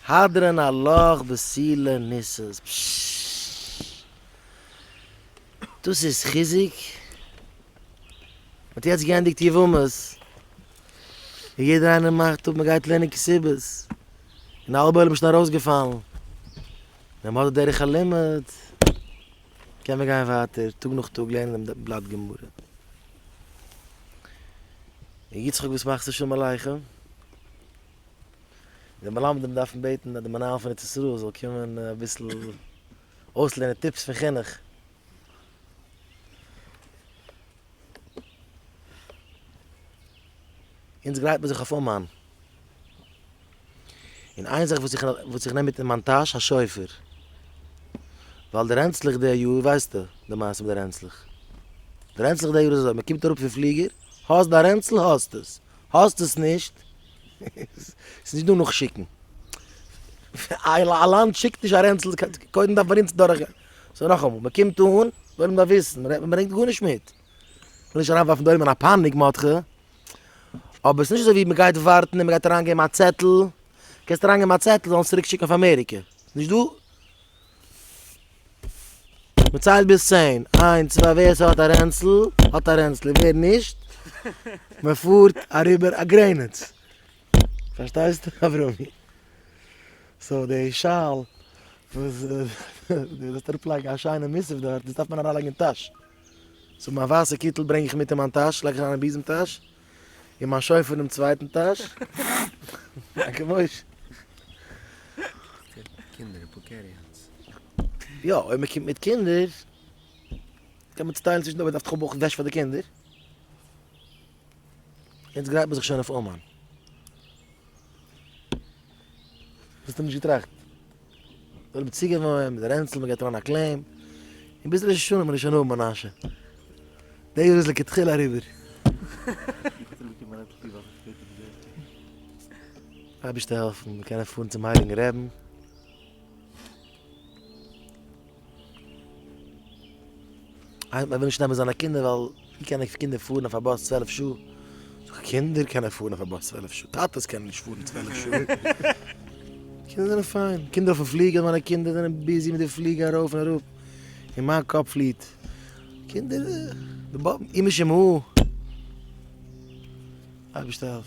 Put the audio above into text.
הדרן הלוך וסילע ניסוס דאס איז חיזוק, מ'האט יעצט געענדיגט יבמות, און יעדער איינער מאכט אפ מ'גייט לערנען כסדר, און א האלבע עולם איז שוין ארויסגעפאלן, ווען מ'האט די דרך הלימוד קען מען גיין ווייטער טאג נאך טאג לערנען דעם בלאט גמרא. יצחק וואס מאכסטו שלום עליכם? די מלמדים דארפן בעטן אז די מנהל פון ארץ ישראל זאל קומען אביסל אויסלערנען טיפס פון חינוך. אונז גרייט מען זיך אויף אומאן. און איין זאך וואס איך נעם מיט אין מיין טאש, א שופר. ווייל די רענצלעך די יאר, ווייסטו די מעשה מיט די רענצלעך. די רענצלעך די יאר איז אזוי, מען קומט אראפ פון פליגער, האסט דיין רענצל, האסט עס. האסט עס נישט? ס'איז נישט דא נאכשיקן. א לאנד שיקט נישט א רענצל, קודם דארף מען אונז דורך גיין. סאו נאכאמאל, מען קומט אן, וויל מען וויסן, מען ברענגט גארנישט מיט. כ'וויל נישט אריינווארפן דא אויבן אין א פאניק מאדכע, אבער ס'איז נישט אזוי ווי מען גייט ווארטן און מען גייט אריינגעבן א צעטל, קענסט אריינגעבן א צעטל זאלן עס צוריק שיקן אויף אמעריקע. נישט דא מען ציילט ביז צען, איינס צוויי, ווער ס'האט א רענצל האט א רענצל, ווער נישט מען פארט אריבער א גרעניץ, פארשטייסט אברומי? סאו די שאל וואס דו זאלסט אראפ לייגן א שיינע מוסף דארט, דאס דארף מען אריין לייגן אין טאש, סאו מיין ווייסע קיטל ברענג איך מיט אין מיין טאש, לייג איך אריין אין ביזעם טאש, און מיין שופר אינעם צווייטן טאש. דאנקע מוישע. קינדער אפאר קערי אנס. יא, אויב מען קומט מיט קינדער קען מען צוטיילן צווישן די אויב מען דארף טאך האבן אויך וועש פאר די קינדער. יעצט גרייט מען זיך שוין אויף אומאן. האסט נישט געטראכט. זיי האבן צוגעוואוינט מיט די רענצל, מען גייט אריין א קלעם, און ביז ראש השנה מען איז שוין אויבן אנ ש. די יאר איז לכתחילה אריבער. אייבערשטער העלפן מיר קענען פארן צום הייליגן רעבן. איינער מען וויל נישט נעמען זיינע קינדער ווייל ווי קענען קינדער פארן אויף א באס צוועלף שעה? זאג איך קינדער קענען פארן אויף א באס צוועלף שעה, טאטעס קענען נישט פארן צוועלף שעה. קינדער זענען פיין, קינדער אויפן פליגער, מיינע קינדער זענען ביזי מיט די פליגער ארויף און אראפ, און מיין קאפ פליט, קינדער די באבען, אמא שמו ע. אייבערשטער העלף.